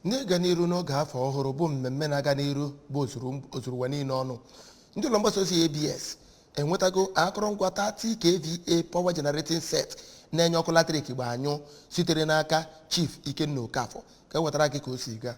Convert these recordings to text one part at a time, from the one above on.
N'ịga n'iru n'oge afọ ọhụrụ bụ mmemme na-aga n'iru bụ ozuru ụwa niile ọnụ, ndị ụlọ mgbasa ozi ABS enwetago akụrụngwa 30 kVA power generating set na-enye ọkụ latrik gba anyụ sitere n'aka Chief Ikenna Okafor ka e wetara gị ka o si gaa.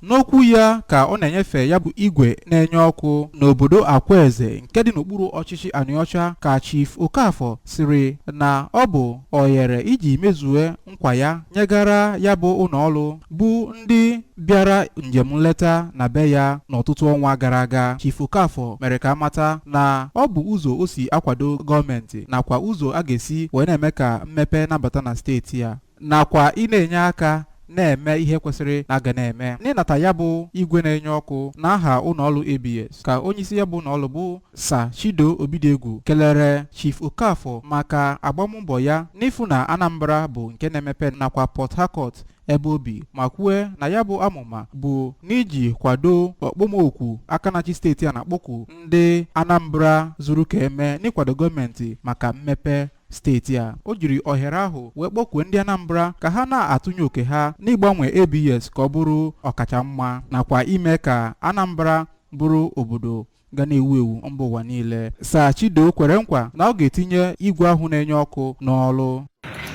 N'okwu ya ka ọ na-enyefe ya bụ igwe na-enye ọkụ n'obodo Akwaeze nke dị n'okpuru ọchịchị Anịọcha ka Chief Okafor sịrị na ọ bụ ohere iji mezue nkwa ya nyegara ya bụ ụlọ ọrụ bụ ndị bịara njem nleta na be ya n'ọtụtụ ọnwa gara aga Chief Okafor mere ka a mata na ọ bụ ụzọ o si akwado gọọmenti nakwa ụzọ a ga-esi wee na-eme ka mmepe na-abata na steeti ya nakwa ị na-enye aka na-eme ihe kwesịrị na a ga na-eme n'ịnata ya bụ igwe na-enye ọkụ n'aha ụlọ ọrụ ABS ka onyeisi ya bụ ụlọ ọrụ bụ Sir Chido Obidiegwu kelere Chief Okafor maka agbammbọ ya n'ịfụ na Anambra bụ nke na-emepe nakwa Port Harcourt ebe o bi ma kwue na ya bụ amụma bụ n'iji kwado ọkpọmoku aka na-achị steeti a na-akpọku ndị Anambra zuru ka eme n'ịkwado gọọmenti maka mmepe steeti a o jiri ohere ahụ wee kpọkwue ndị Anambra ka ha na-atụnye oke ha n'ịgbanwe ABS ka ọ bụrụ ọkacha mma nakwa ime ka Anambra bụrụ obodo ga na-ewu ewu mba ụwa niile Sir Chido kwere nkwa na ọ ga-etinye igwe ahụ na-enye ọkụ n'ọrụ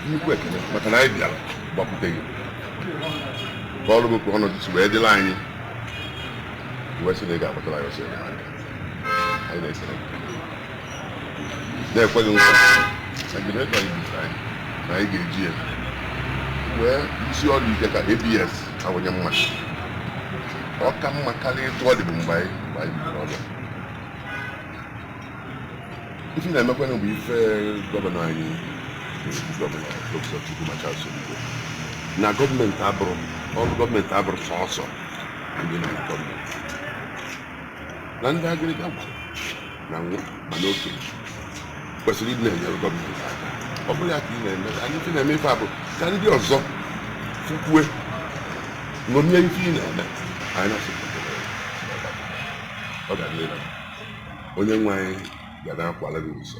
nnukwu ekele maka na anyị bịara gbakwute gị kọọrọ gị ka ọnọdụ si wee dịrị anyị wee sị na ị ga-agbatara anyị ọsọ enyemaka anyị na-ekele gị na-ekwe gị nkwa na generator a i bunyere anyị na anyị ga-eji ya wee rụsie ọrụ ike ka ABS kawanye mma ọ ka mma karịa etu ọ dịbụ mgbe anyị mgbe anyị bidoro ọrụ a. ife ị na-emekwanụ bụ ife gọvanọ anyị na-ekwu gọvanọ Dr. Chukwuma Charles Soludo na gọọmenti abụrọ ọrụ gọọmenti abụrọ sọsọ ndị nọ na gọọmenti na ndị agịrịga gwara ma nwa ma okenye kwesịrị ịdị na-enyere gọọmenti aka ọ bụrụ ya ka ị na-eme anyị ife na-eme ife a bụ ka ndị ọzọ fụkwue ṅomie ife ị na-eme anyị na-asị ọ ga na-ele onye nwe anyị ga na-akwala gị ụzọ